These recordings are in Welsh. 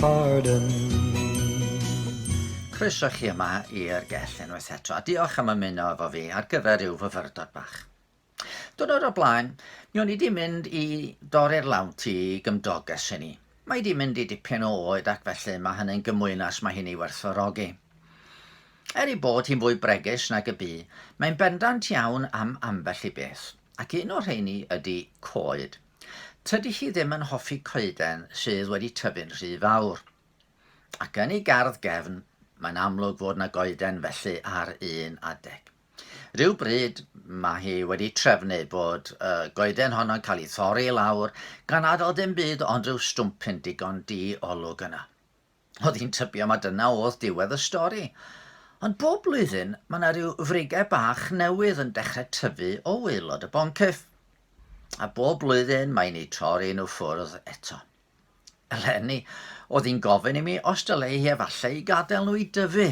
Pardon. Croeso chi yma i'r gell unwaith eto, a diolch am ymuno efo fi ar gyfer rhyw fyfyrdod bach. Dwrnod o blaen, mi o'n i di mynd i dorri'r lawnt i gymdoges i ni. Mae di mynd i dipyn o oed ac felly mae hynny'n gymwynas mae hi'n ei werthfawrogi. Er ei bod hi'n fwy bregus nag y bu, mae'n bendant iawn am ambell i beth, ac un o'r rheini ydy coed. Tydi hi ddim yn hoffi coeden sydd wedi tyfu'n rhy fawr. Ac yn ei gardd gefn, mae'n amlwg fod 'na goeden felly ar un adeg. Rhyw bryd mae hi wedi trefnu bod y goeden honno'n cael ei thorri i lawr gan adael dim byd ond rhyw stwmpyn digon di-olwg yna. Oedd hi'n tybio mai dyna oedd diwedd y stori. Ond bob blwyddyn, mae yna rhyw frigau bach newydd yn dechrau tyfu o waelod y boncyff. A bob blwyddyn mae ni torri nhw ffwrdd eto. Eleni, oedd hi'n gofyn i mi os dylai hi efallai i gadael nhw i dyfu.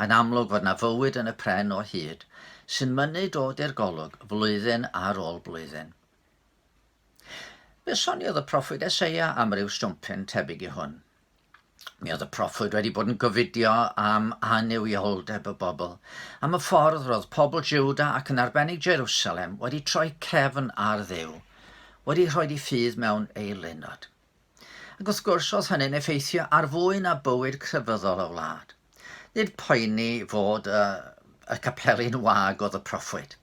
Yn amlwg fod yna fywyd yn y pren o hyd, sy'n mynnu dod i'r golwg flwyddyn ar ôl blwyddyn. Fe soniodd y proffwyd Eseia am ryw swmpyn tebyg i hwn. Mi oedd y proffwyd wedi bod yn gofidio am annuwioldeb y bobl, am y ffordd roedd pobl Jiwda ac yn arbennig Jerusalem wedi troi cefn ar Dduw, wedi rhoi i ffydd mewn eilunod. Ac wrth gwrs, oedd hynny'n effeithio ar fwy na bywyd crefyddol y wlad. Nid poeni fod y, y capeli'n wag oedd y proffwyd.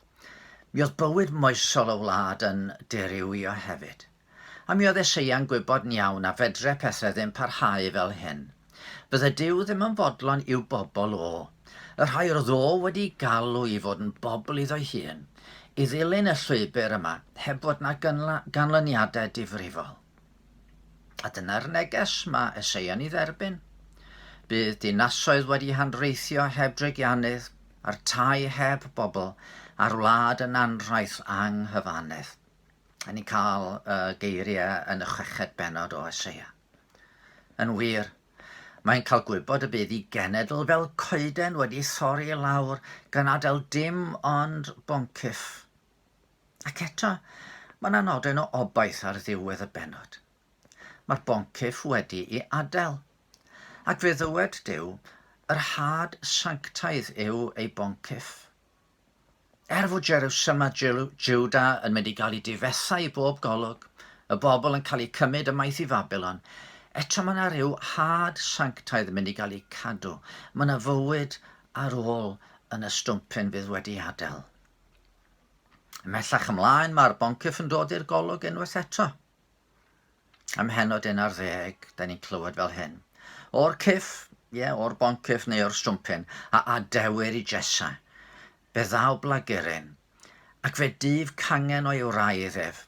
Mi oedd bywyd moesol y wlad yn dirywio hefyd. A mi oedd Eseia'n gwybod yn iawn na fedre pethau ddim parhau fel hyn. Bydde Duw ddim yn fodlon i'w bobl o, y rhai yr oedd o wedi galw i fod yn bobl iddo'i hun, i ddilyn y llwybr yma heb fod na ganlyniadau difrifol. A dyna'r neges mae Eseia'n ei dderbyn. Bydd dinasoedd wedi hanreithio heb dreigiannydd, a'r tai heb bobl, a'r wlad yn anrhaith anghyfannedd. A ni'n cael y geiriau yn y chweched benod o Eseia. Yn wir, mae'n cael gwybod y bydd i genedl fel coeden wedi thorri i lawr gan adael dim ond boncyff. Ac eto, mae yna nodyn o obaith ar ddiwedd y bennod. Mae'r boncyff wedi i adael. Ac fe ddywed Duw, Yr had sanctaidd yw ei boncyff. Er fod Jerwsalem a Jwda yn mynd i gael eu difetha i bob golwg, y bobl yn cael eu cymryd ymaith i Fabilon, eto mae yna rhyw had sanctaidd yn mynd i gael eu cadw. Mae yna fywyd ar ôl yn y stwmpyn fydd wedi adael. Ymhellach ymlaen mae'r boncyff yn dod i'r golwg unwaith eto. Ym mhennod un ar ddeg, da ni'n clywed fel hyn. O'r cyff, ie, yeah, o'r boncyff neu o'r stwmpyn, a adewir i Jessa. Fe ddaw blagurin, ac fe dyf cangen o'i wraidd ef.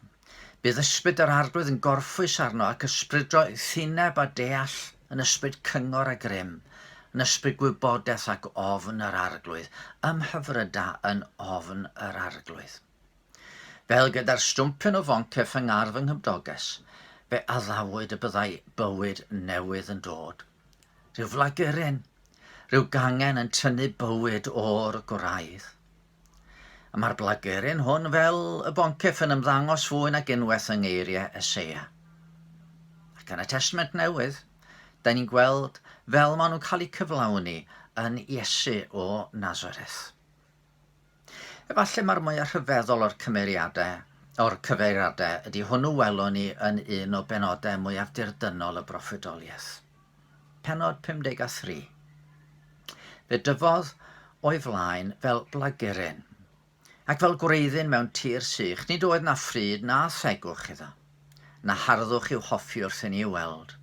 Bydd ysbryd yr arglwydd yn gorffwys arno ac ysbrydro thineb a deall yn ysbryd cyngor a grym, yn ysbryd gwybodaeth ac ofn yr arglwydd, ymhyfryda yn ofn yr arglwydd. Fel gyda'r stwmpen o foncyff yng ngardd fy nghymdoges, fe addawyd y byddai bywyd newydd yn dod. Rhyw flagurin, rhyw gangen yn tynnu bywyd o'r gwraidd. A mae'r blagurin hwn fel y boncyff yn ymddangos fwy nag unwaith yng ngeiriau Eseia. Ac yn y Testament Newydd, da ni'n gweld fel maen nhw'n cael eu cyflawni yn Iesu o Nazareth. Efallai mai'r mwyaf rhyfeddol o'r cymeriadau, o'r cyfeiriadau, ydy hwnnw welwn ni yn un o benodau mwyaf dirdynnol y broffwydoliaeth. Pennod 53. Fe dyfodd o'i flaen fel blageryn, ac fel gwreiddyn mewn tir sych, nid oedd na phryd na thegwch iddo. na harddwch i'w hoffi wrth inni i'w weld.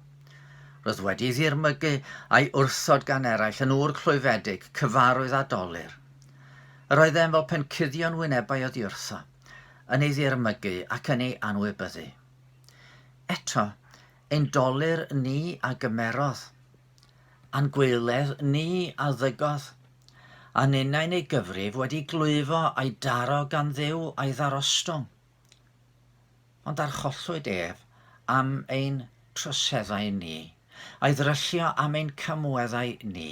Roedd wedi ddirmygu a'i wrthod gan eraill yn ŵr clwyfedig, cyfarwydd a dolur. Yr oeddem fel pen cuddio'n wynebau oddiwrtho, yn ei ddirmygu ac yn ei anwybyddu. Eto, ein dolur ni a gymerodd, a'n gwaeledd ni a ddygodd, a ninnau'n ei gyfrif wedi glwyfo a'i daro gan Dduw a'i ddarostwng. Ond arhollwyd ef am ein troseddau ni, a'i ddryllio am ein camweddau ni,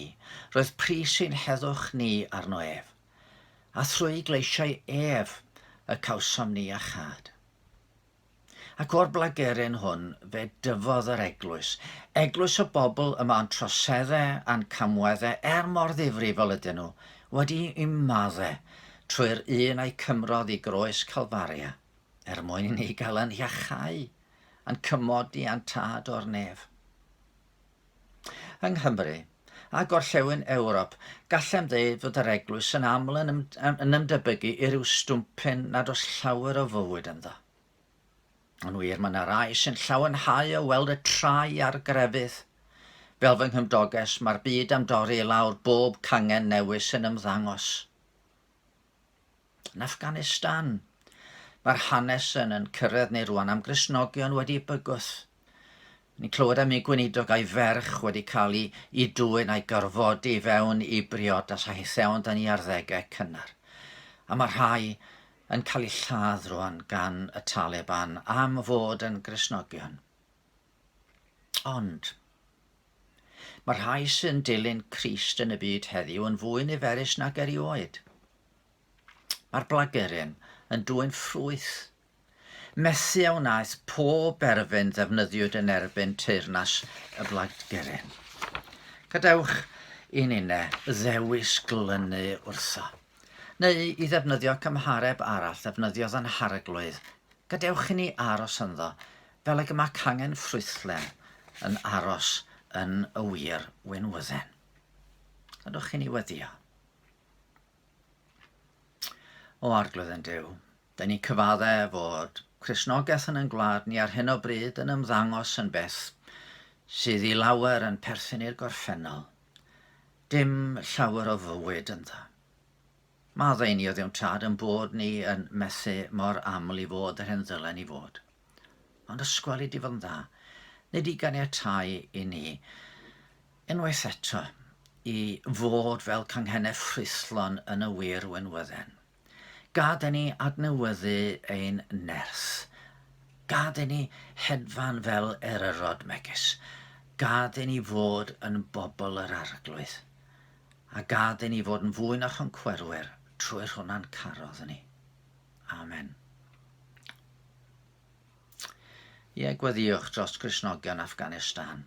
roedd pris ein heddwch ni arno ef, a thrwy gleisio'i ef y cawsom ni iachâd. Ac o'r blageryn hwn fe dyfodd yr eglwys, eglwys y bobl yma o'n troseddau a'n camweddau er mor ddifrifol ydyn nhw, Wedi ymmaddu trwy'r un a'i cymrodd i groes Calfaria, er mwyn i ni gael yn iachau a'n cymodi a'n tad o'r nef. Yng Nghymru, a gorllewin Ewrop, gallem ddeud fod yr Eglwys yn aml yn ymdebygu i ryw stwmpyn nad oes llawer o fywyd ynddo. Yn wir, mae yna rai sy'n llawenhau o weld y trai a'r grefydd. Fel fy nghymdoges, mae'r byd am dorri i lawr bob cangen newydd sy'n ymddangos. Yn Afghanistan, mae'r hanes yn yn cyrraedd ni rwan am Gristnogion wedi bygwth. Ni'n clywed am un gweinidog a'i ferch wedi cael i i dwyn a'i gorfodi i fewn i briodas a hitheon dan i arddegau cynnar. A mae rhai yn cael eu lladd rwan gan y Taliban am fod yn Gristnogion. Ond, mae rhai sy'n dilyn Crist yn y byd heddiw yn fwy niferus nag erioed. Mae'r blageryn yn dwyn ffrwyth Methu a wnaeth pob erfyn ddefnyddiwyd yn erbyn teyrnas y Blaid Geren. Gadewch i ninne ddewis glynu wrtho, neu i ddefnyddio cymhareb arall ddefnyddiodd yn Harglwydd, gadewch i ni aros ynddo fel ag y mae cangen ffrwythlen yn aros yn y wir winwydden. Gadewch i ni weddio. O Arglwydd yn Duw, Dyn ni'n cyfaddef fod Cristnogaeth yn ein gwlad ni ar hyn o bryd yn ymddangos yn beth sydd i lawer yn perthyn i'r gorffennol. Dim llawer o fywyd ynddo. Maddau ni oddiwntad yn bod ni yn methu mor aml i fod yr hyn ddylen ni fod. Ond ysgwel i di fod yn dda. Nid i ganiatáu i ni, unwaith eto, i fod fel canghenau ffrwythlon yn y wir wynwydden. Gad i ni adnewyddu ein nerth. Gad i ni hedfan fel eryrod megis. Gad i ni fod yn bobl yr Arglwydd. A gad i ni fod yn fwy na choncwerwyr trwy'r hwnna'n carodd ni. Amen. Ie, gweddiwch dros Gristnogion Afghanistan.